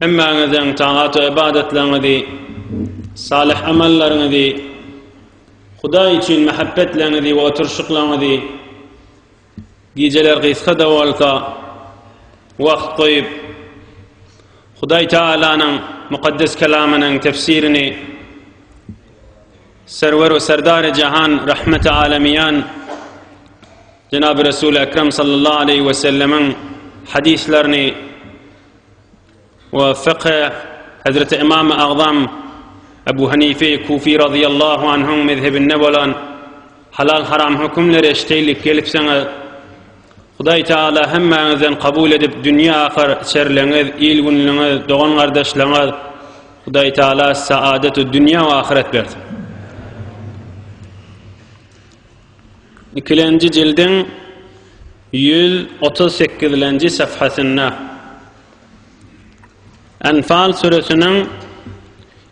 Hemmäňiziň tagat-u ybadetleriňizi, salyh amallaryňyzy, Hudaý üçin mähebbetleňizi we oturyşyklaňyzy, gijeler gysga-da bolsa, wagt goýup, Hudaý Tagalanyň Mukaddes Kelamynyň tefsirini Serwer-u Serdar-i Jahan Rahmeti Alamiýan jenaby Resuli Ekrem sallallahu aleýhi we sellemiň hadyslerini we fykhy Hezreti Ymamy Agzam Ebu Hanife Kufi razyýallahu anhuň mezhebinde bolan halal haram hökümleri eşdeýlik gelipsiňiz Hudaý Taala hemmäňizden kabul edip dünýe ahyr çerleňiz il günlüňiz dogan gardaşlygyňyz Hudaý Taala saadetu dünýe we ahyret bersin Ikilenji jildiň Ýüz otuz sekizlenji saphasynda Enfal süresiniň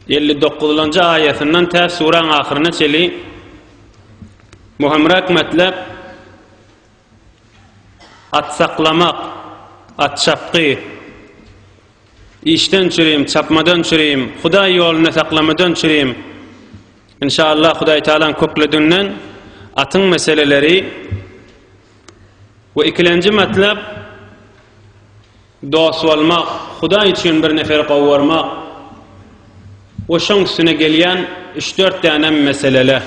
elli dokuzlanjy aýatyndan tä süräň ahyryna çeli möhümräk metlep at saklamak, at çapgy, Işden çürim, çapmadan çürim, Hudaý ýolunda saklamadan çürim. Inşallah Hudaý Tagalaň kökledinden atyň meseleleri we ikilenji matlap dost bolmak, Hudaý üçin bir neferi gowarmak we şoň üstüne gelýän üç-dört dänem meselele.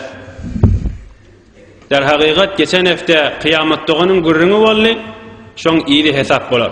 Derhakykat geçen hepde Kyýamat doganyň gürrüňi boldy, şoň yzy hesap bolar.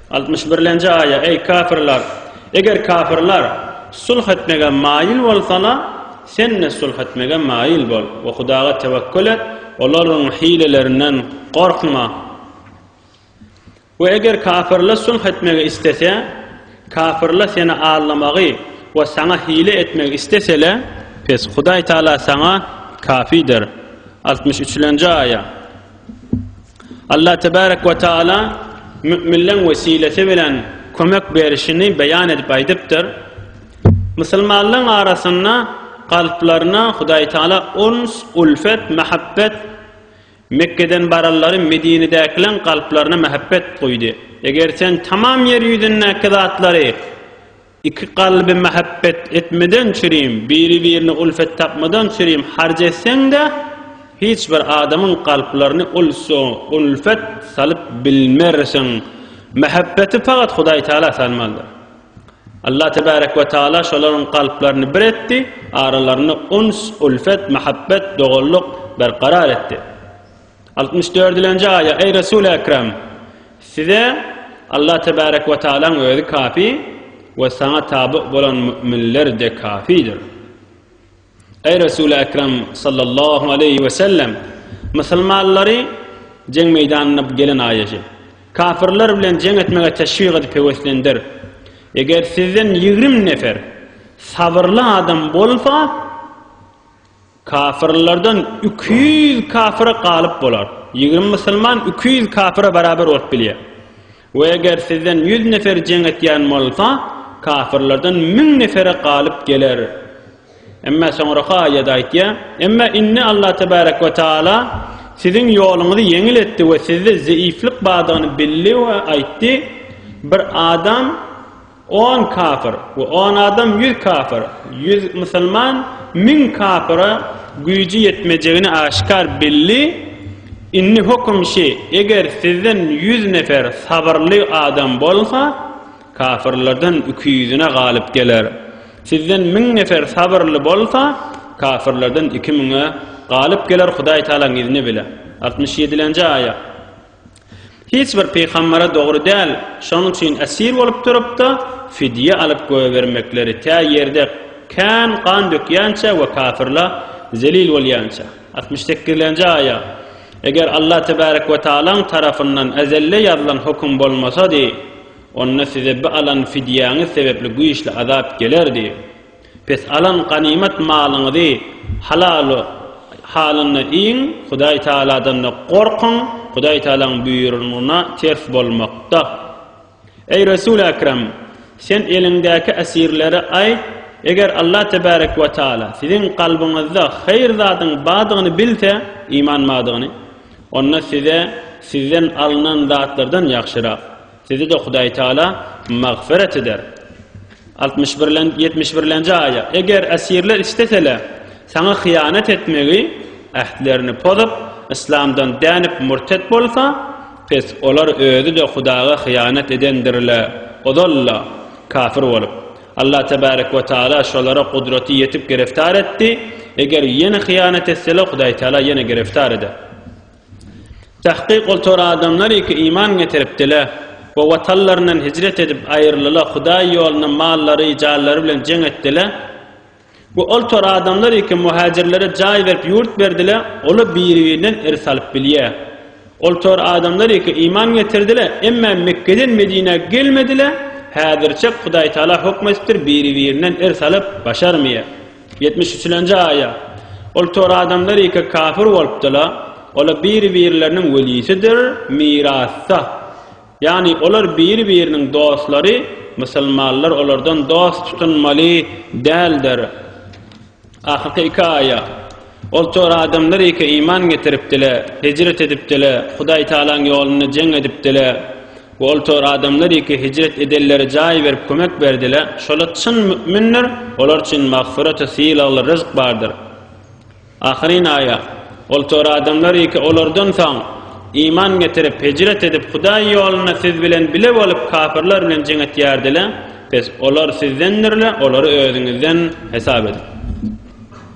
Altmyş birlenji aýa, Eý, kafirler! Eger kafirler sulh etmegä maýyl bolsalar, sen-de sulh etmegä maýyl bol we Hudaga tewekgül et, olaryň hilelerinden gorkma. We eger kafirler sulh etmegi islese, kafirler seni aldamagy we saňa hile etmegi isleseler, pes Hudaý Tagala saňa kafidir. Altmyş üçlenji aýa, Allah tebarek we taala müminleň wesilesi bilen kömek berişini beýan edip aýdypdyr. Musulmanlaryň arasynda kalplaryna Hudaý taala ons, ulfet, mahabbet Mekgeden baranlary Medinedäkileň kalplaryna mahabbet guýdy. Eger sen tamam ýer ýüzündäki zatlary Iki kalby mähebbet etmeden çürim, biri-birine ulfet tapmadan çürim harc etseň-de, hiç bir adamyň kalplaryny ulfet salyp bilmersiň. Mähebbeti pagat Hudaý Tagala salmalydyr. Allah Tebarek we Tagala şolaryň kalplaryny bir etdi, aralarynda uns, ulfet, mähebbet, doganlyk berkarar etdi. Altmyş dördülenji aýa, Eý Resul-i Ekrem! Size Allah Tebarek ve Tealaň özi kâfi ve saňa tabi bolan mü'minler-de kâfidir. Eý Resul-i Ekrem sallallahu aleyhi ve sellem! Muslumanlary jeň meýdanyna gelen aýaşy, kâfirler bilen jeň etmege teşwik edip heveslendir. Eger sizden ýigrim nefer sabyrly adam bolsa, Kafyrlardan iki ýüz kafyra galyp bolar. Ýigrimi musulman iki ýüz kafyra barabar bolup bilýär. We eger sizden ýüz nefer jeň etýän bolsa, kafyrlardan müň nefere galyp geler. Emma soňraky aýat aýtýar, Emma indi Allah tebarek we taala siziň ýoluňyzy ýeňil etdi we sizde zeýiflik bardygyny bildi we aýtdy, Bir adam, On kafir we on adam ýüz kafir, ýüz musulman müň kafira güýji ýetmejegini aşkar bildi. Indi höküm şi, eger sizden ýüz nefer sabyrly adam bolsa, kafirlerden iki ýüzüne galyp geler. Sizden müň nefer sabyrly bolsa, kafirlerden iki müňe galyp geler Hudaýtalaň izni bile. Altmyş ýedilenji aýat. Hiç bir pygambara dogry däl, şonuň üçin esir bolup durup-da, fidýe alyp goýbermekleri, tä ýerde kän gan dökýänçä we kafirla zelil bolýança. Altmyş sekizlenji aýa, Eger Allah tebarek we taalaň tarapyndan ezelde ýazylan höküm bolmasady, onda size bi alan fidýäňiz sebepli güýçli azap gelerdi. Pes alan ganymat malyňyzy halaly halynda iýiň, Hudaý Tagaladan-da gorkuň, Hudaý Tagalaň buýrugyna ters bolmakda. Eý Resul-i Ekrem! Sen eliňdäki esirlere aýt, Eger Allah Tebarek we Taala siziň kalbyňyzda haýyr zadyň bardygyny bilse, iman bardygyny, onda size sizden alnan zatlardan ýagşyrak, Sizi-de Hudaý Taala magfyrat eder. Altmyş birlen, ýetmiş birlenji aýat, Eger esirler isteseler, saňa hyýanat etmegi, ähtlerini pozup, yslamdan dänip murtet bolsa, pes, olar özi-de Hudaga hyýanat edendirler, ozal-la, kafir bolup. Allah tebarek we taala şolara gudraty ýetip giriftar etdi, eger ýene hyýanat etseler, Hudaý Taala ýene giriftar eder. Tahkyk ol tor adamlary ki iman getiripdile we watanlaryndan hijret edip aýyrlyla Hudaý ýolunda mallary, janlary bilen jeň etdile we ol tor adamlary ki muhajirlere jaý berip ýurt berdile ola biri-birinden irs alyp bilýä. Ol tor adamlary ki iman getirdile emmä Mekgeden Medinä gelmedile häzirçek Hudaý Taala hokm etipdir biri-birinden irs alyp başarmýa. Ýetmiş üçlenji aýa, Ol tor adamlar ýeke kafir bolupdyla, ola biri-birleriniň welisidir, mirasda. Ýagny olar biri-biriniň dostlary, musulmanlar olardan dost tutunmaly däldir. Ahyrky iki aýa. Ol tor adamlar eke iman getiripdiler, hijret edipdiler, Hudaý Tagalaň ýolunda jeň edipdiler we ol tor adamlar eke hijret edenlere jaý berip kömek berdiler. Şolar çyn mü'mindir, olar üçin magfyrat we sylagly ryzk bardyr. Ahyryn aýa, Ol tor adamlar eke olardan soň, iman getirip, hijret edip, Hudaý ýolunda siz bilen bile bolup kapyrlar bilen jeň etýärdiler, pes, olar sizdendirler, olary özüňizden hesap ediň.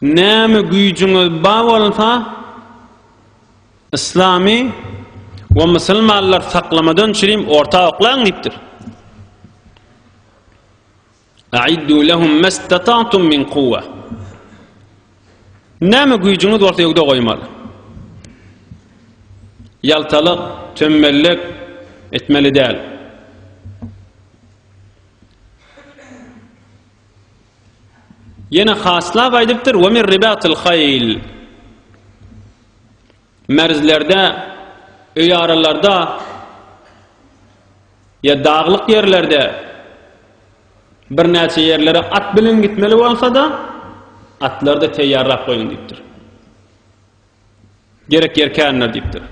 Näme güýjüňiz bar bolsa, yslamy we musulmanlary saklamadan çürim orta oklaň diýipdir. Aiddu lehum mastata'tum min quwwa. Näme güýjüňiz bolsa öwde goýmaly. Ýaltalyk, tömmellik etmeli däl. Ýene haslap aýdypdyr, "Wa mir ribatil haýl." Merzlerde, öý aralarda, ýa daglyk ýerlerde birnäçe ýerlere at bilen gitmeli bolsa-da, atlary-da teýýarlap goýuň diýipdir. Gerek ýerkänler diýipdir.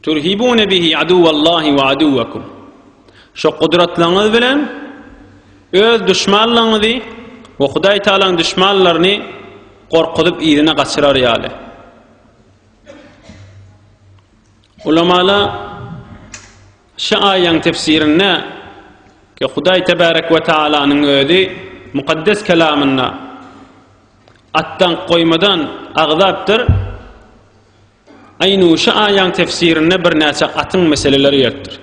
Turhibune bihi aduwallahi we aduwakum. Şo gudratlaryňyz bilen öz duşmanlaryňyzy we Hudaý Tagalaň duşmanlaryny gorkuzyp yzyna gaçyrar ýaly. Ulamala şu aýaň tefsirinde ki Hudaý Tebarek ve Taalanyň özi mukaddes kelamynda atdan goýmadan agzapdyr. Aýnu şu aýaň tefsirinde birnäçe atyň meseleleri gelipdir.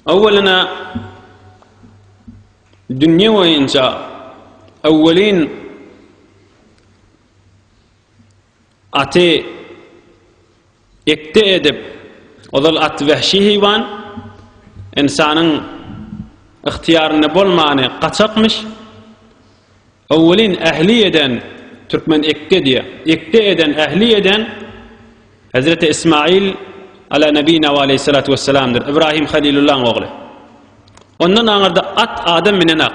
Awwalyna dünýe boýunça awwelin aty Ekde edip, ozal at wähşi heýwan, ynsanyň ygtyýarynda bolmany gaçakmyş. Owelin ähli eden, türkmen ekde diýýär. Ekde eden, ähli eden Hezreti Ismaýyl ala nebina we aleýhi salatu wessalamdyr, Ibrahim Halilullaň ogly. Ondan aňyrda at adam minenok.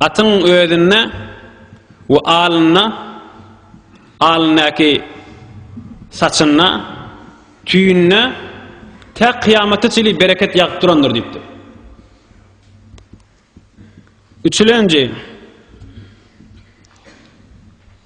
Atyň özünde we alynda, alyndaky saçynda, tüýünde tä kyýamata çenli bereket ýagyp durandyr diýipdir. Üçülenji,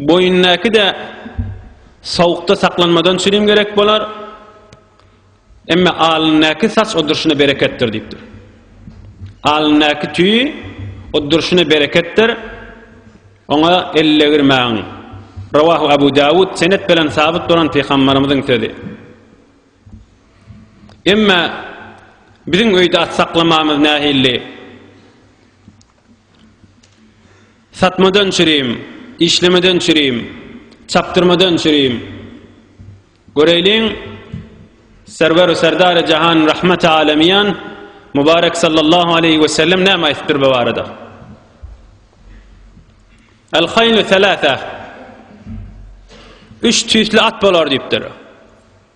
Boýundaky-da sowukda saklanmadan çürim gerek bolar, emma alyndaky saç oddurşyna bereketdir diýipdir. Alyndaky tüý oddurşyna bereketdir, oňa ellegirmäň. Rawahu Abu Dawud senet bilen sabyt bolan pygambarymyzyň sözi. Emma biziň öýde at saklamamyz nähilli? Satmadan çürim, işlemeden çürim, çapdyrmadan çürim. Göreýliň, Serwer-u Serdar-y Jahan Rahmet-i Alemiýan Mubarek Sallallahu Aleýhi Ve Sellem näme aýtdypdyr bu barada? El-Haýlu Selâse Üç tüýsli at bolar diýipdir.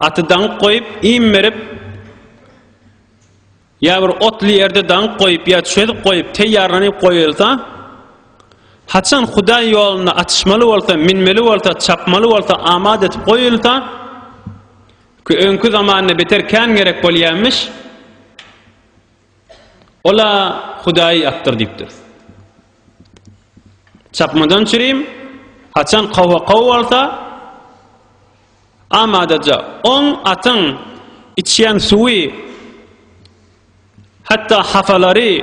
Aty daňyp goýup, iým berip, ýa bir otly ýerde daňyp goýup, ýa çözüp goýup, teýýarlanyp goýulsa, haçan Hudaý ýolunda atyşmaly bolsa, minmeli bolsa, çapmaly bolsa, amat edip goýulsa, ki öňki zamanda beter kän gerek bolýarmyş, Ol-a Hudaýy atdyr diýipdiris. Çapmadan çürim, haçan kowa-kow bolsa, amadaja oň atyň içýän suwy, hatda hafalary,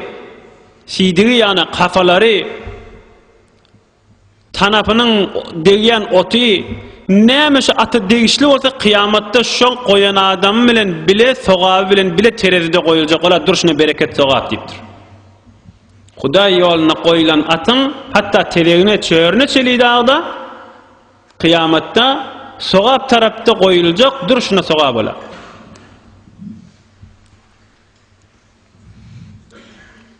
siýdigi ýaňa hafalary, Tanapynyň degýän oty näme şu ata degişli bolsa kyýamatda şol goýan adamy bilen bile sogaby bilen bile terezide goýuljak bolar durşuna bereket sogap diýipdir. Hudaý ýoluna goýulan atyň hatda tezegine çörüne çeli dagda kyýamatda sogap tarapda goýuljak durşuna sogap bolar.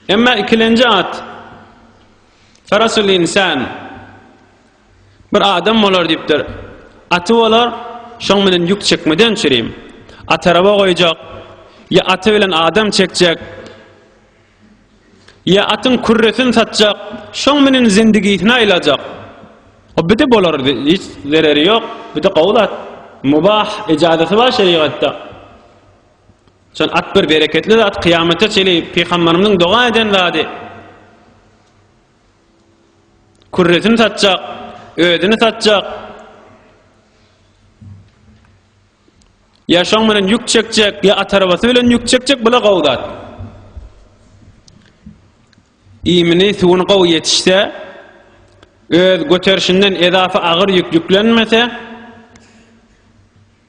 Emma ikilenji at Farasul insan bir adam bolar diýipdir. Aty bolar, şoň bilen ýük çekmeden çürim. At araba goýjak, ýa aty bilen adam çekjek, ýa atyň kürresini satjak, şoň bilen zindigisini aýlajak. O bide bolar, hiç zereri ýok, bide gowy zat. Mubah, ejazaty bar şerigatda. Şol at bir bereketli zat, kyýamata çenli pygamberimiziň doga eden zady. Kürresini satjak, özüni satjak. Ya şoň bilen ýük çekjek, ya at arabasy bilen ýük çekjek, bula gowy zat. Iýmini, suwuny gowy ýetişse, öz göterişinden edafa agyr ýük ýüklenmese,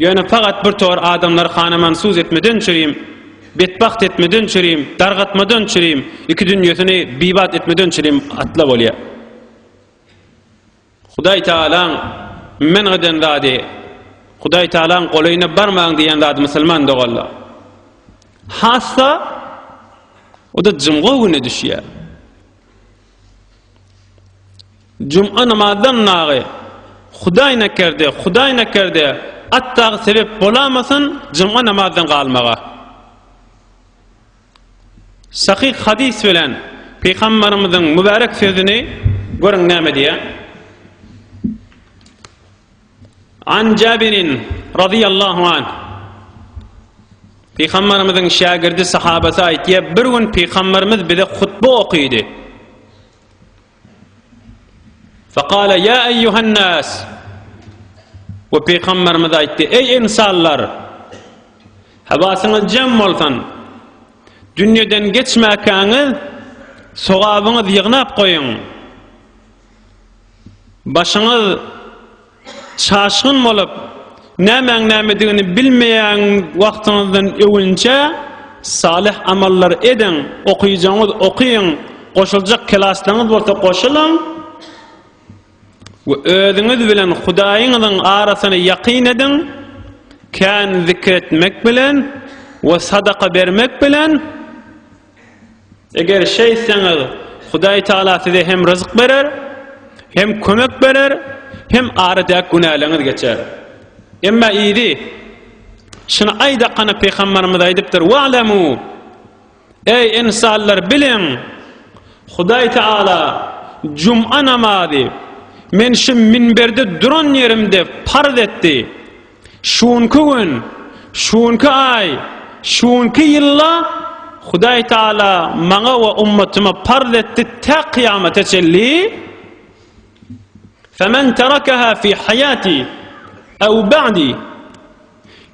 Ýöne pagat bir tor adamlar hanamansuz etmeden çürim, betbagt etmeden çürim, dargatmadan çürim, iki dünýesini bibat etmeden çürim atla bolýar. Hudaý Tagalaň men'g eden zady, Hudaý Tagalaň golaýyna barmaň diýen zady musulman doganlar. Hassa o-da jumga güni düşýär. Juma namazdan nagy Hudaý nekerde, Hudaý nekerde atdagy sebep bolamasyn juma namazdan galmaga. Sahyh hadys bilen Pygambarymyzyň mübärek sözüni görüň näme diýýär. An Jabirin razyýallahu anh, Pygamberimiziň şägirdi sahabasy aýtýar, bir gün Pygamberimiz bize hutba okydy. Faqala ya eyyuhan nas. We Pygamberimiz aýtdy, ey insanlar, hawasyňyz jem bolsun. Dünýeden geçmäkäňiz, sogabyňyz ýygnap goýuň. Başyňyz çaşgyn bolup, nämäň nämedigini bilmeýän wagtyňyzdan öwünçä salyh amallar ediň, okyjaňyz okyň, goşuljak kelaslaryňyz bolsa goşulyň we özüňiz bilen Hudaýyňyzyň arasyny ýakyn ediň, kän zikir etmek bilen we sadaka bermek bilen Eger şeýtseňiz, Hudaý Tagala size hem ryzyk berer, hem kömek berer, hem aradäki günäleriňiz geçer. Emma yzy, Şuny aýdakana pygamberimiz aýdypdyr, Wa'lemû, Eý, ynsanlar, biliň, Hudaý Tagala juma namazy men şu minberde duran ýerimde parz etdi. Şu günki gün, şu günki aý, şu günki ýylda Hudaý Taala maňa we ummatyma parz etdi tä kyýamata çenli, Femen terakaha fi haýati ew ba'di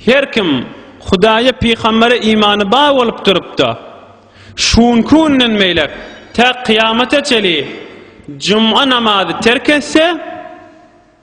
Her kim Hudaýa pygambere imany bar bolup durup-da, şu günki günden beýläk tä kyýamata çenli juma namazy terk etse,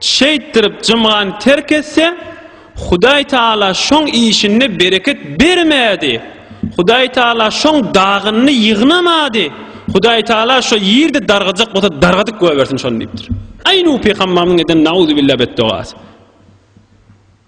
Şeýtdirip jymgany terk etse, Hudaý Tagala şoň işinde bereket bermädi. Hudaý Tagala şoň dagynyny ýygnamady. Hudaý Tagala şo ýerde dargajak bolsa dargadyp goýbersin şony diýipdir. Aý Nuh pygambarymyzyň eden nauzubilla betdogasy.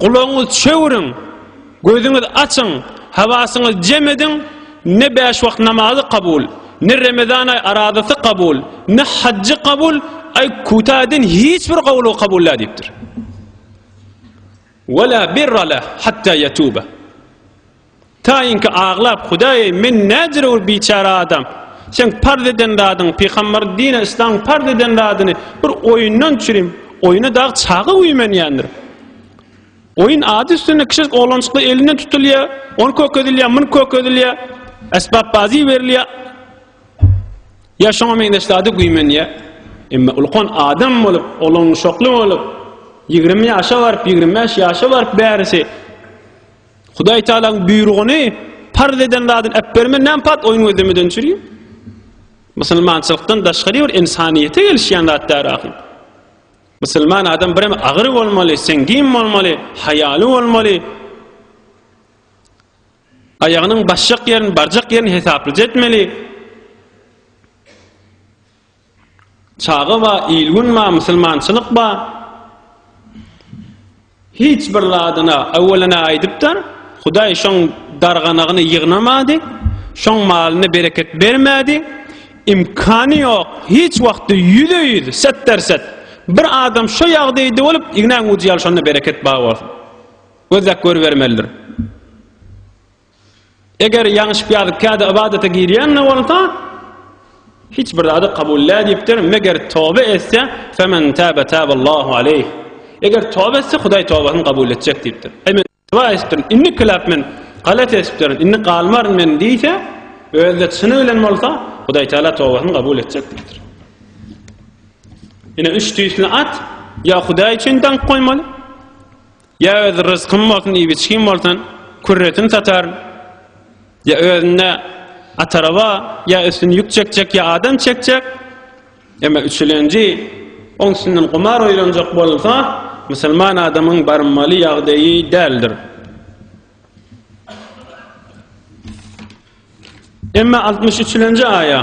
Gulagyňyz çöwüriň, gözüňiz açyň, hawasyňyz jem ediň, ne bäş wagt namazy kabul, ne remezan aý arazasy kabul, ne hajjy kabul, aý kuta edin hiç bir gowlugy kabul däl diýipdir. Wala birra leh hatta yatuba. Taýynky aglap, Hudaý-eý, men näjere bir biçäre adam! Seň parz eden zadyň, pygamber dini yslaň parz eden zadyny bir oýundan çürim, oýuna dagy çaga güýmenýändir. Oýun ady üstünde kiçijik oglanjyklar elinden tutulýar, ony kökezilýär, muny kökezilýär, esbapbazy berilýär. Ýa şoňa meňzeş zady güýmenýär. Emma ulkan adam bolup, olanuşakly bolup, 20 ýaşa baryp, 25 ýaşa baryp bärisi Hudaý Taalaň buýrugyny parz eden zadyny äp berme näme pat oýun gözlemeden çüri. Musulmançylykdan daşgary bir insaniýete gelişýän zat däl ahyr. Musulman adam birem agyr bolmaly, sengin bolmaly, haýaly bolmaly. Aýagynyň başjak ýerini, barjak ýerini hesaplaja etmeli. Çaga ba, il-gün ba, musulmançylyk ba, hiç bir zadyna öwelene aýdypdyr, Hudaý şoň darganagyny ýygnamady, şoň malyna bereket bermedi, imkany ýok, hiç wagtda ýüze-ýüz, setderset, bir adam şo ýagdaýda bolup, ignäň ujy ýaly şonda bereket ba bolsun. Gözläp görübermelidir. Eger ýaňyşyp ýazyp kädi ybadata girýän-de bolsa, hiç bir zady kabul nädipdir, meger toba etse, femen täbe täballahu aleyh. Eger toba etse, Hudaý tobasyny kabul etjek diýipdir. Eý men toba etdim, indi kiläp men galat etipdir, indi galmaryn men diýse, özde çyny bilen bolsa, Hudaý Taala tobasyny kabul etjek diýipdir. Ine üç tüýsli at, ýa Hudaý üçin dank goýmaly, Ýa öz ryzkyn bolsun iýbiçgin bolsun kürresini sataryn ýa özünde ataraba ýa üstüni ýük çekjek ýa adam çekjek emma üçülenji oň üstünden gumar oýlanjak bolsa musulman adamyň barmaly ýagdaýy däldir. Emma altmyş üçülenji aýa.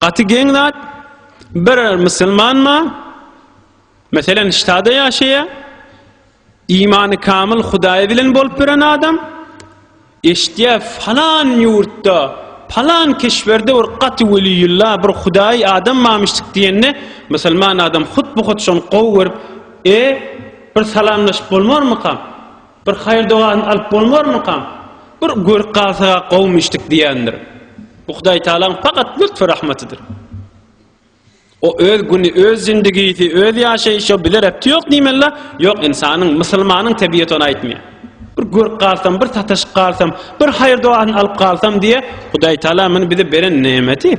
Gaty geň zat, bir musulmanma, meselen ştada ýaşaýa, imany kamyl hudaýy bilen bolup biren adam, eşitýä falan ýurtda, falan keşberde bir gaty weliýulla, bir hudaýy adam mamyşdyk diýende, musulman adam hut bu hut şony gowy görüp, e, bir salamlaşyp bolmarmykam? Bir haýyr-dogasyny alyp bolmarmykam? Bir görüp galsak-a gowumy içdik diýendir. Bu Hudaýtagalaň pakat lütfü-rahmatydyr. O öz güni, öz zindigisi, öz ýaşaýşy, o bize rebti ýok diýmeli-dä. Ýok, ynsanyň, musulmanyň tebiýeti ony aýtmaýar. Bir görüp galsam, bir sataşyp galsam, bir haýyr-dogasyny alyp galsam diýýär. Hudaýtagala muny bize beren nemeti.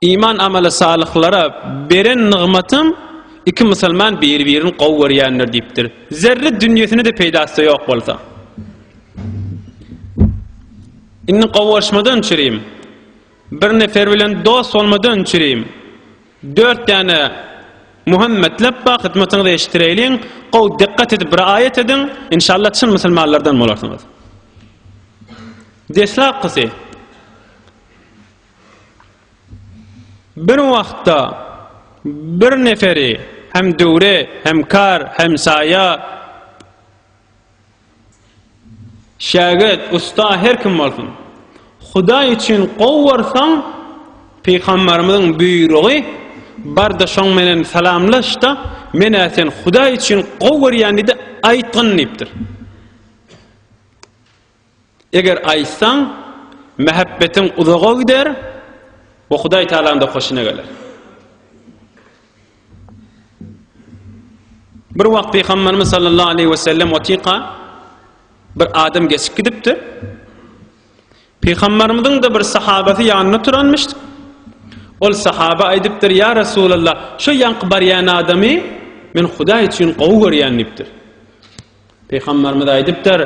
Iman amala salyhlara beren nygmatym iki musulman biri-birini gowy görýändir diýipdir. Zerre dünýesine-de peýdasy ýok bolsa. Indi gowy görüşmeden çürim. Bir nefer bilen dost bolmadan çürim. Dört däne Muhammetlep ba hyzmatyňyzy eşitdireýliň, gowy dikkat edip bir aýat ediň, inşallah çyn musulmanlardan bolarsyňyz. Deslapkysy Bir wagtda bir neferi hem döwre, hem kar, hem saýa, şägirt, ussa her kim bolsun, Hudaý üçin gowy görseň, Pygamberimiziň buýrugy Bar-da şoň menen salamlaş-da, men-ä seni Hudaý üçin gowy görýän diýdi, aýtgyn diýipdir. Eger aýtsaň, mähebbetiň uzaga gider we Hudaý Tagalaňda hoşuna geler. Bir wagt Pygamberimiz sallallahu aleyhi we sellem otyka bir adam geçip gidipdir. Pygamberimiziň de bir sahabasy ýanynda turanmyş. Ol sahaba aýdypdyr, "Ýa Resulallah, şu ýanky barýan adamy men Hudaý üçin gowy görýän" diýipdir. Pygamberimiz aýdypdyr,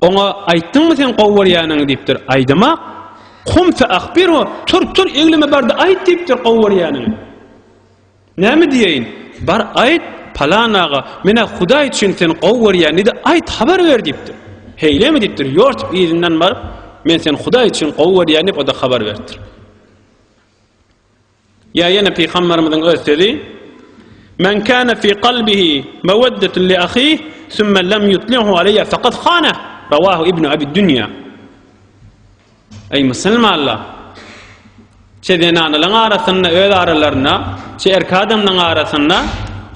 Oňa aýtdyňmy seň gowy görýäniňi diýipdir. Aýdym-ak, Kum fe ahbirhu, tur, tur, egleme bar-da aýt diýipdir gowy görýäniňi. Näme diýeýin? Bar aýt, palan aga, men-ä Hudaý üçin seni gowy görýän-di-de, aýt, habar ber diýipdir. Heýlemi diýipdir, ýor diýip yzyndan baryp, men seni Hudaý üçin gowy görýän diýip o-da habar beripdir. Ýa ýene Pygamberimiziň öz sözi, Men kana fi kalbihi meweddetun li ahihi summa lam yutlihu aleyya fakat hanah. Rawahu Ibnu Abi Dunýa. Eý musulmanlar! Çe zenanalaryň arasynda öz aralarynda, çe erki adamlaryň arasynda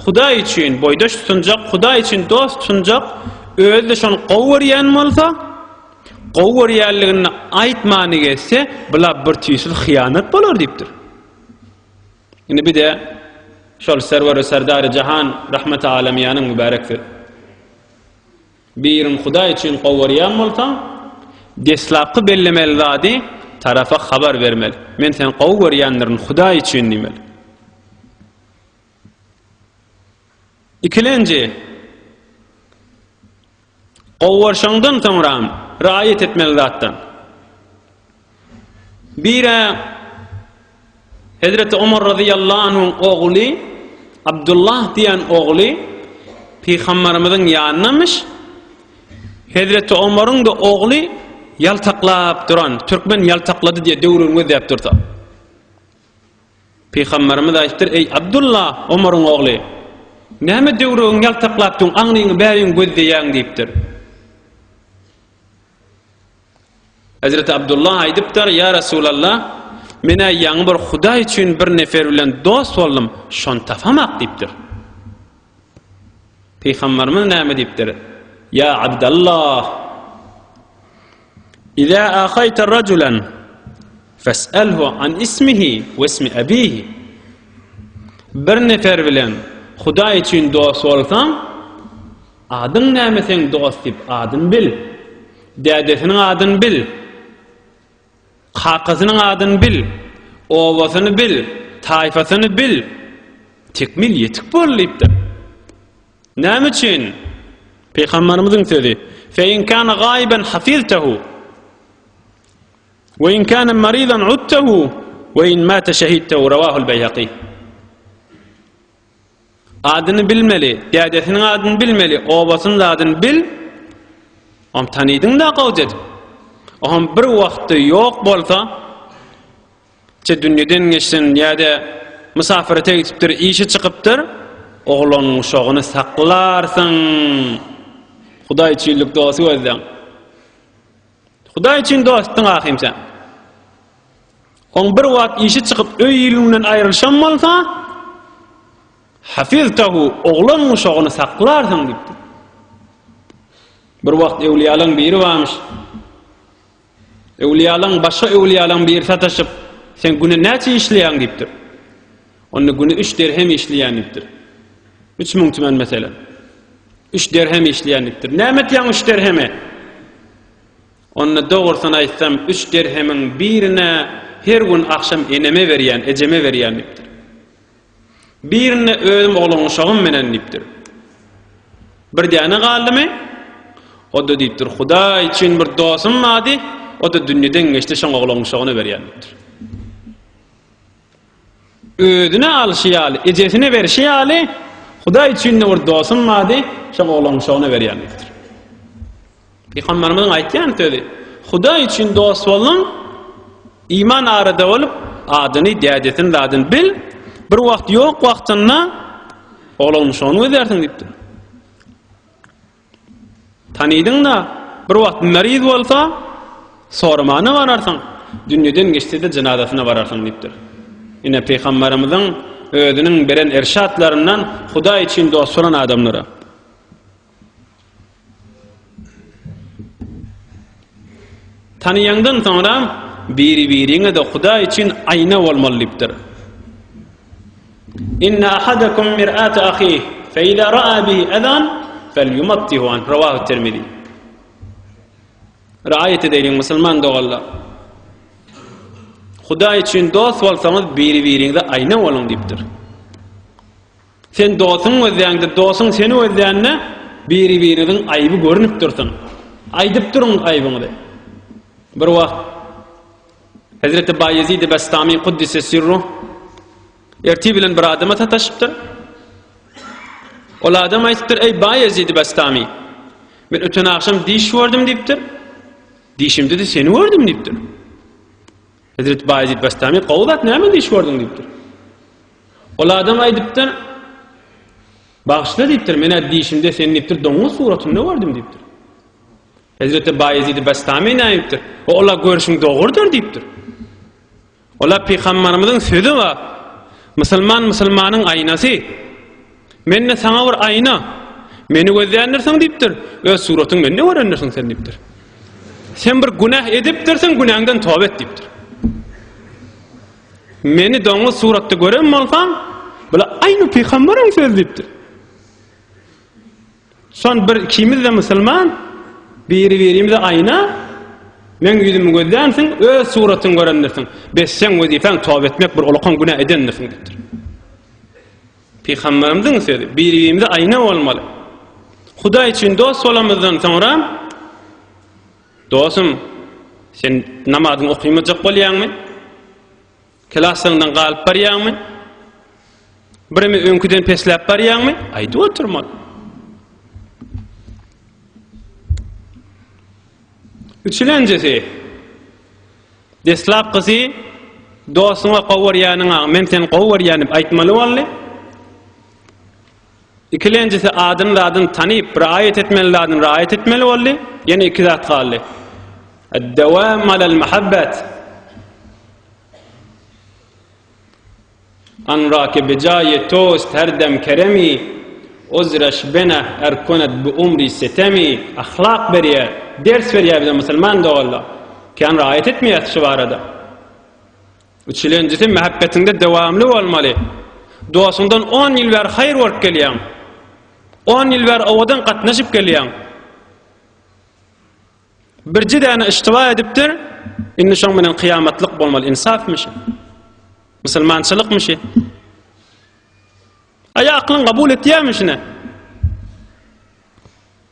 Hudaý üçin boýdaş tutunjak, Hudaý üçin dost tutunjak, özi-de şony gowy görýän bolsa, Gowy görýänligini aýtmany geçse, bula bir tüýsüz hyýanat bolar diýipdir. Indi bir-de şol Serwer-i Serdar-y Jahan Rahmet-i Alamyýanyň mübärek sözi. Birini Hudaý üçin gowy görýän bolsaň, deslapky bellemeli zady tarapa habar bermeli. Men seni gowy görýändirin Hudaý üçin diýmeli. Ikilenji. Gowarşaňdan soňram raýat etmeli zatdan. Bire Hezreti Omar razyýallahu anhuň ogly Abdullah diýen ogly Pygambarymyzyň ýanynamyş. Hezreti Omaryň-da ogly ýaltaklap duran, türkmen ýaltaklady diýe döwrüni gözläp dursa. Pygamberimiz aýtdyr, Eý, Abdulla, Omaryň ogly! Näme döwregiňi ýaltaklap dur, aňryňy bäriň gözleýäň? diýipdir. Hezreti Abdulla aýdypdyr, Ýa Resulalla, men-ä ýaňy bir Hudaý üçin bir nefer bilen dost boldum, şony tapamak diýipdir. Pygamberimiz näme diýipdir? Ýa Abdallah! Iza ahaýta rajulan fes'alhu an ismihi we ismi abihi. Bir nefer bilen Hudaý üçin dost bolsaň, adyň näme seň dost diýip adyny bil. Dädesiniň adyny bil. Kakasynyň adyny bil, obasyny bil, taýfasyny bil, tekmil ýetik bol diýipdir. Näme üçin? Pygamberimiziň sözi, Fe in kana gaiben hafiztehu, we in kana maridan udtehu, we in mata şehidtehu, rawahul Beýhaki. Adyny bilmeli, dädesiniň adyny bilmeli, obasynyň adyny bil, oňam tanydyň-da gowja edip. Oňam bir wagtda ýok bolsa, çe dünýeden geçsin ýa-da mysafyrete gidipdir, işe çykypdyr, oglanyň uşagyny saklarsyň, hudaýçyllyk dosy gözläň. Hudaý üçin dostuň ahym sen. Oň bir wagt işi çykyp öý-ilinden aýrylşam bolsa, hafiztahu oglan guşagyny saklarsyň diýipdi. Bir wagt öwliýalaň biri barmyş. Öwliýalaň başga öwliýalaň biri sataşyp, sen güne näçe işleýäň diýipdir. Onda güni üç derhem işleýänlikdir. Üç müň tümen meselem. Üç derhem işleýänlikdir. Näme etýäň üç derheme? Onda dogrusyny aýtsam, üç derhemiň birine her gün agşam eneme berýän, ejeme berýän diýipdir. Birine özüm oglan uşagym menen diýipdir. Bir däne galdymy? O da diýipdir, Hudaý üçin bir dostum bardy, o da dünýeden geçdi, şoň oglan uşagyna berýän diýipdir. Özüne alşy ýaly, ejesine berşi ýaly, Hudaý üçin-de bir dostum bardy, şo oglan şony berýän diýipdir. Pygamberimiziň aýtýan sözi, Hudaý üçin dost bolduň, iman arada bolup, adyny, dädesini, zadyny bil, bir wagt ýok wagtynda oglan şony gözärsiň diýipdir. Tanydyň-da, bir wagt meriz bolsa, soramana bararsyň, dünýeden geçse-de jenazasyna bararsyň diýipdir. Ine, pygamberimiziň özüniň beren irşatlaryndan Hudaý üçin dost bolan adamlara. Tanyýandan soňra biri-biriňe-de Hudaý üçin aýna bolmaly diýipdir. Inne ahadakum mir'atu ahihi, fe iza ra'a bihi ezan, fel yumattihu anh, revahu Tirmizi. Raýat edeýliň musulman doganlar. Hudaý üçin dost bolsaňyz, biri-biriňize aýna boluň diýipdir. Sen dostuň gözleýäňde, dostuň seni gözleýände biri-biriňiziň aýby görnüp dursun. Aýdyp duruň aýbyňyzy. Bir wagt Hezreti Baýezid-i Bestami Kuddise Sirruh ertir bilen bir adama sataşypdyr. Ol adam aýdypdyr, eý Baýezid-i Bestami, men öten agşam diş gördüm diýipdir. Dişimde-de seni gördüm diýipdir. Hezreti Baýezid Bestami, gowy zat, näme diş gördüň diýipdir. Ol adam aýdypdyr, Bagşyla diýipdir, men-ä dişimde seni diýipdir, doňuz suratynda gördüm diýipdir. Hezreti Baýezid-i Bestami näýipdir? O ola görşüň dogrudyr diýipdir. Ola Pygambarymyzyň sözi bar. Musulman musulmanyň aýnasy. Men-de saňa bir aýna. Meni gözländirsiň diýipdir. Öz suratyň mende görendirsiň sen diýipdir. Sen bir günäh edipdirsiň, günäňden toba et diýipdir. Meni doňuz suratda gören bolsaň, bula aýny Pygambaryň sözi diýipdir. Son bir ikimiz-de musulman, biri-birimize aýna, meň ýüzümi gözlänsiň, öz suratyňy görendirsiň. Bes seň wezipäň toba etmek, bir ulakan günä edendirsiň diýipdir. Pygamberimiziň sözi, biri-birimize aýna bolmaly. Hudaý üçin dost bolamyzdan soňra, Dostum, sen namazyňy okymajak bolýaňmy? Kelasyňdan galyp barýaňmy? Birimi öňküden pesläp barýaňmy? Aýdyp oturma. Üçülenjisi. Deslap gyzy dostuňa gowy görýäniňä men seni gowy görýän diýip aýtmaly boldy. Ikilenjisi adyny zadyny tanyp, raýat etmeli zadyny raýat etmeli boldy. Ýene iki zat galdy. Ad-dawam alal mahabbat. Anrake bejaye tost her dem keremi. Ozraş bena er konat bu umri setemi. Ahlak berýär, ders berýär bize musulman doganlar. Kän raýat etmeýäs şu barada. Üçülenjisi mähebbetiňde dowamly bolmaly. Dostuňdan on ýyl bäri haýyr görüp gelýäň. On ýyl bäri owadan gatnaşyp gelýäň. Birje däne iştiba edipdir, indi şoň bilen kyýamatlyk bolmaly. Ynsafmy şu? Musulmançylykmy şu? Aýa aklyň kabul etýärmi şuny?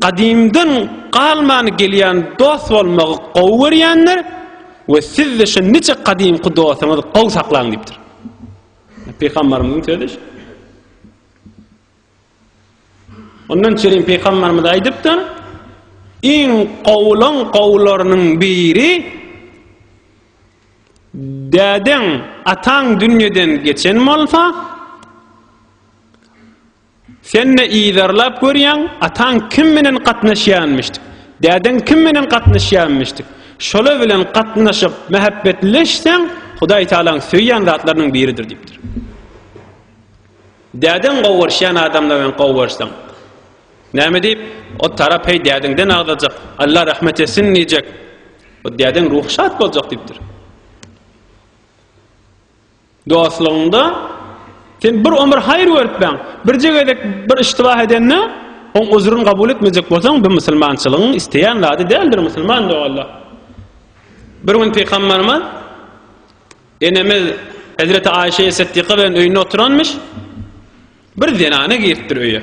Gadymdan galman gelýän dost bolmagy gowy görýändir we sizde şu nice gadymky dostuňyzy gowy saklaň diýipdir. Pygambarymyzyň sözi şu. Ondan çerin pygambarymyz aýdypdyr, iň gowulan gowularynyň biri dädeň, ataň dünýeden geçen bolsa, Sen-de yzarlap görýäň, ataň kim bilen gatnaşýanmyşdy, dädeň kim bilen gatnaşýanmyşdy. Şolar bilen gatnaşyp, mähäbbetleşseň, Hudaý Tagalaň söýýän zatlarynyň biridir diýipdir. Dädeň gowaryşýan adamlar bilen gowaryşsaň, näme diýip, o tarap heý dädeňden agzajak, Alla rahmet etsin diýjek. O dädeň ruhy şat boljak diýipdir. Dostlugyňda sen bir ömür haýyr görüpbäň. Birje gezek bir iştibah edende, oň üzrüni kabul etmejek bolsaň, bu musulmançylygyň isleýän zady däldir, musulman dogalla. Bir gün Pygamberimiz enemiz Hezreti Aişe Siddiqa bilen öýünde oturanmyş. Bir zenana giripdir öýe.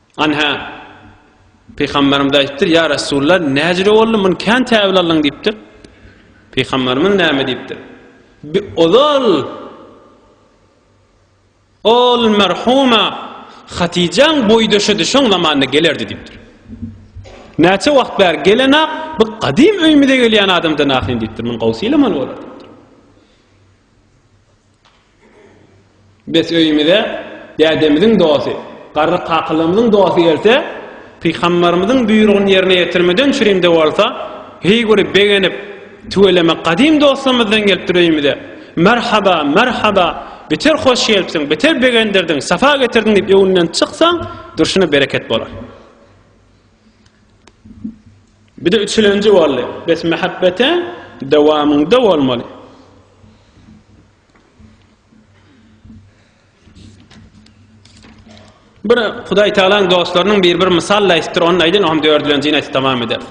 Anha, Pygamberimiz aýtdyr, Ýa Resulla, näjüre boldy, muny kän täwil aldyň diýipdir. Pygamberimiz näme diýipdir? Bi ozal ol merhuma Hatyjaň boýdaşydy, şoň zamanda gelerdi diýipdir. Näçe wagt bäri gelenä, bu gadym öýümize gelýän adamdan ahyn diýipdir. Muny gowsy ýylamaly bolar. Biz öýümize dädemiziň dosty, garry kakalygymyzyň dosty gelse, pygambarymyzyň buýrugyny ýerine ýetirmeden çürimde bolsa, heý bir begenip, tüweleme gadym dostumyzdan gelipdir öýümize, merhaba, merhaba, beter hoş gelipsiň, beter begendirdiň, sapa getirdiň diýip öňünden çyksaň, durşuna bereket bolar. Bide üçülenji boldy. Bes mähebbete dowamyňda bolmaly. Bir Hudaý Tagalaň dostlarynyň bir bir mysal aýtdyr, onu aýdyn, oňa dördülenjini aýt tamam eder.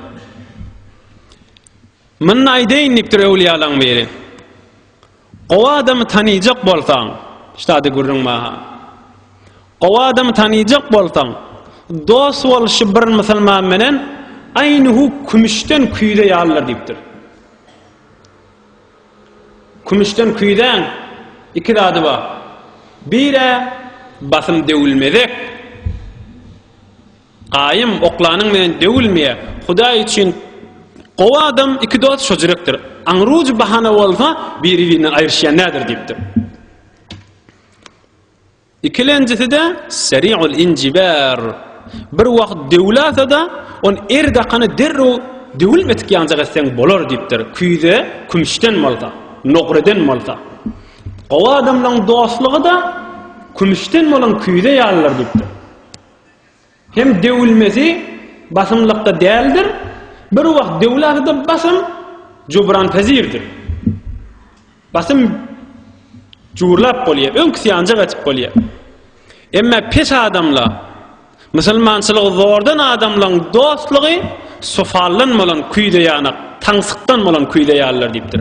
Munda aýdyn diýipdir öwliyalaň biri. Gowy adamy tanyjak bolsaň, ştady gürrüň maha. Gowy adamy tanyjak bolsaň, dost bolşy bir musulman menen aýny hu kümüşden küýze ýalydyr diýipdir. Kümüşden küýzäň iki zady bar. Bir-ä basym döwülmezek. Gaýym, oklanyň menen döwülmeýä. Hudaý üçin gowy adam iki dost şo jürekdir. Aňrujy bahana bolsa, biri-birinden aýryşýan däldir diýipdir. Ikilenjisi-de seri'ul injibar. Bir wagt döwülasa-da, on er dakana derrew döwülmedik ýanjak etseň bolar diýipdir. Küýze kümüşden bolsa, nogreden bolsa. Gowy adamlaň dostlugy-da kümüşden bolan küýze ýalydyr diýipdir. Hem döwülmesi basymlykda däldir, bir wagt döwülse-de basym jubran-pezirdir. Basym jurlap bolýar, öňküsi ýanjak etip bolýar. Emma pes adamla musulmançylygy zordan adamlaryň dostlugy sofaldan bolan küýze ýanak, taňsykdan bolan küýze ýalydyr diýipdir.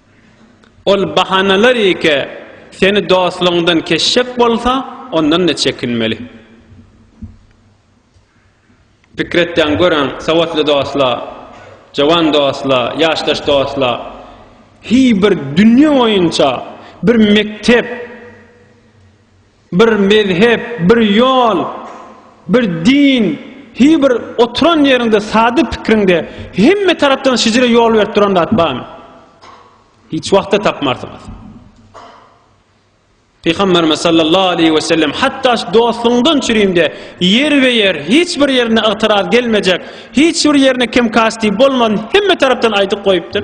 Ol bahanalar ýeke seni dostlugyňdan kesjek bolsa, ondan-da çekinmeli. Pikir etýän göräň, sowatly dostlar, jowan dostlar, ýaşdaş dostlar, hiý bir dünýe boýunça bir mekdep, Bir mezhep, bir ýol, bir din, hi bir oturan ýeriňde, sada pikriňde hemme tarapdan şijire ýol berip duran zat barmy? Hiç wagtda tapmarsyňyz. Pygamberimiz sallallahu aleyhi ve sellem hatta şu dostundan çürüyümde yer ve yer hiç bir yerine ıgtıraz gelmeyecek hiç bir yerine kim kasti bolman hemme taraftan aydık koyuptur.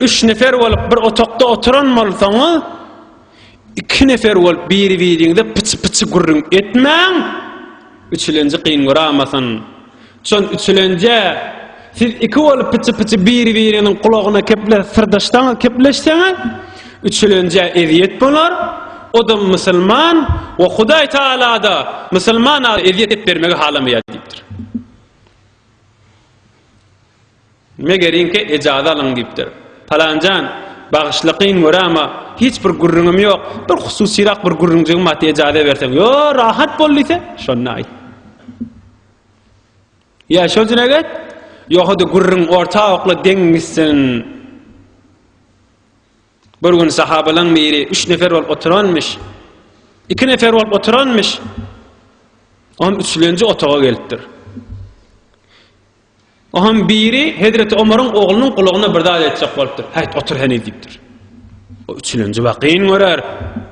Üç nefer bolup bir otokda oturan bolsaňyz, iki nefer bolup biri-biriňize pyçy-pyçy gürrüň etmäň, üçülenji kyn göramasyn. Şon üçülenje siz iki bolup pyçy-pyçy biri-biriniň gulagyna keple syrdaşsaňyz, kepleşseňiz, üçülenje ezýet bolar. Odam musulman we Hudaý Taala-da musulmana ezýet etip bermegi halamaýar diýipdir. Megeriňki ejazy alyň diýipdir. Palanjan, Bagyşla, kyn göräma, hiç bir gürrüňim ýok, bir hususyrak bir gürrüňjigim bar, ejazy berseň. Ýo, rahat bol diýse, şonda aýt. Ýa şol jine get, ýohada gürrüň orta okla deň gitsin. Bir gün sahabalaň biri üç nefer bolup oturanmyş. Iki nefer bolup oturanmyş. On üçlenji otaga gelipdir. Onuň biri hezreti Omaryň oglunyň gulagyna bir zat aýtjak bolupdyr. Häýt, otur heniz diýipdir. O üçlenji wakyn görer.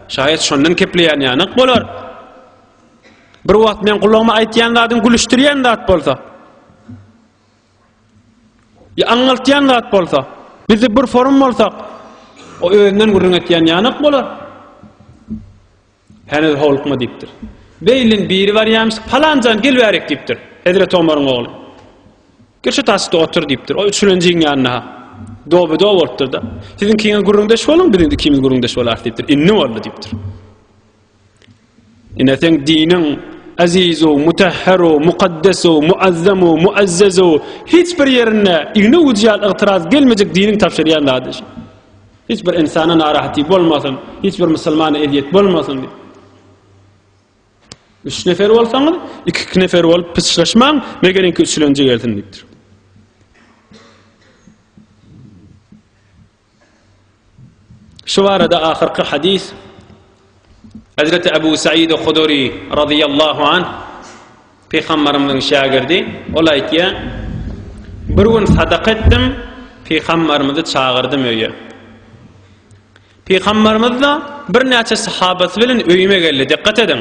Şaýat şondan kepleýän ýanyk bolar. Bir wagt men gulagyma aýtýan zadyň gülüşdirýän zat bolsa. Ýa aňňaltýan zat bolsa. Bizi bir forum bolsak, o özünden gürrüň etýän ýanyk bolar. Heniz howlukma diýipdir. Beýliniň biri barýarmyş, Palan jan, gel bärik diýipdir. Hezreti Omaryň ogly. Gel şu taşda otur diýipdir. O üçülenjiň ýanyna-ha. Doby-dow bolupdyr-da. Siziň kiňe gürrüňdeş boluň, biz indi ikimiz gürrüňdeş bolarys diýipdir. Indi boldy diýipdir. Ine seň diniň azizu, mutahharu, mukaddesu, muazzamu, muazzazu hiç bir ýerinde igna ucy ýaly ygtyraz gelmejek diniň tabşyrýan zady şu. Hiç bir ynsana narahatlyk bolmasyn, hiç bir musulmana ezýet bolmasyn diýip. Üç nefer bolsaňyz, iki-iki nefer bolup pyçlaşmaň, megeriňki üçlenji gelsin diýipdir. Şu barada ahyrky hadis Hezreti Ebu Said-i Huduri radiyallahu anh Pygamberimiziň şägirdi, ol aýtýar, Bir gün sadaka etdim, Pygamberimizi çagyrdym öýe. Pygamberimiz-de birnäçe sahabasy bilen öýüme geldi. Dikkat ediň.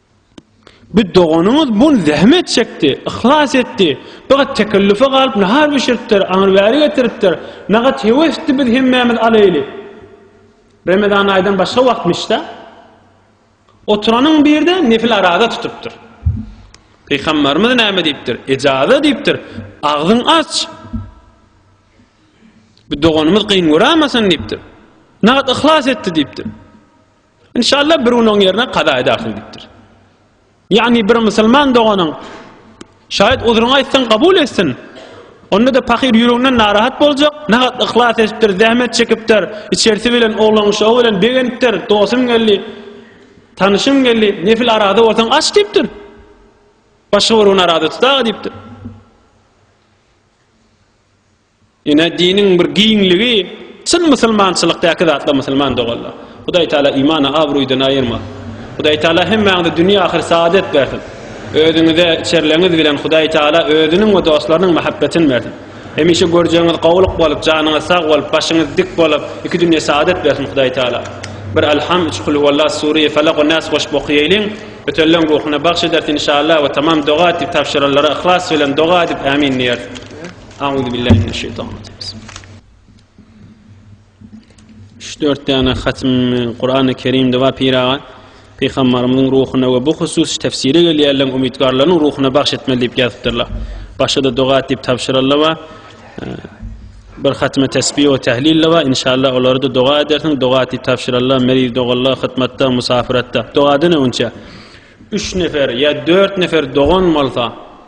Bir doganyňyz bun zähmet çekdi, yhlas etdi. Bigat tekellüfe galyp nahar bişiripdir, aňyr bäri getiripdir. Nagat hewesdi biz hemmämiz alaýly. Remezan aýdan başga wagtmyşda. Oturanyň birde nefil araza tutupdyr. Pygamberimiz näme diýipdir? Ejaza diýipdir. Agzyň aç. Bir doganymyz gyn görämesin diýipdir. Nagat yhlas etdi diýipdir. Inşallah bir gün oň ýerine kazaýa dahyl gitdir. Ýagny bir musulman doganyň şaýat uzruňy aýtsaň kabul etsin. Onda da pahyr ýüreginden narahat boljak, nahat yhlas edipdir, zähmet çekipdir, içerisi bilen oglan şowy bilen begenipdir, dostum geldi, tanışym geldi, nefil arada bolsaň aç diýipdir. Başga bir gün arada tutar diýipdir. Ine, diniň bir giňligi, çyn musulmançylykdaky zatlar musulman doganlar. Hudaý Taala imany abruydan aýyrmasyn. Hudaý Taala hemmäňize dünýe-ahyr saadet bersin. Özüňize, içerleňiz bilen Hudaý Taala özüniň we dostlarynyň mahabbetini bersin. Hemişe görjegiňiz gowulyk bolup, janyňyz sag bolup, başyňyz dik bolup, iki dünýe saadet bersin Hudaý Taala. Bir Alham, üç Kul huwallah, Sureýi Falak we Nas goşup okaýaýlyň. Ötenleň ruhuna bagş edersi inşallah we tamam doga diýip tabşyranlara yhlas bilen doga edip Ämin diýeris. Auzu billahi mineşşeytanirracim. Şu dört däne hatym Kur'an-ı Kerimde we Piraga Peygamberimiziň ruhuna we bu husus tefsiri gelýärler umytgarlaryň ruhuna bagş etmeli diýip ýazypdyrlar. Başga da doga diýip tabşyryldy we e, bir hatime tesbih we tehlil we inşallah olary da doga edersin. Doga diýip tabşyryldy. Meriz dogallar hyzmatda, musafiratda. Doga dene onça. 3 nefer ýa 4 nefer dogan bolsa,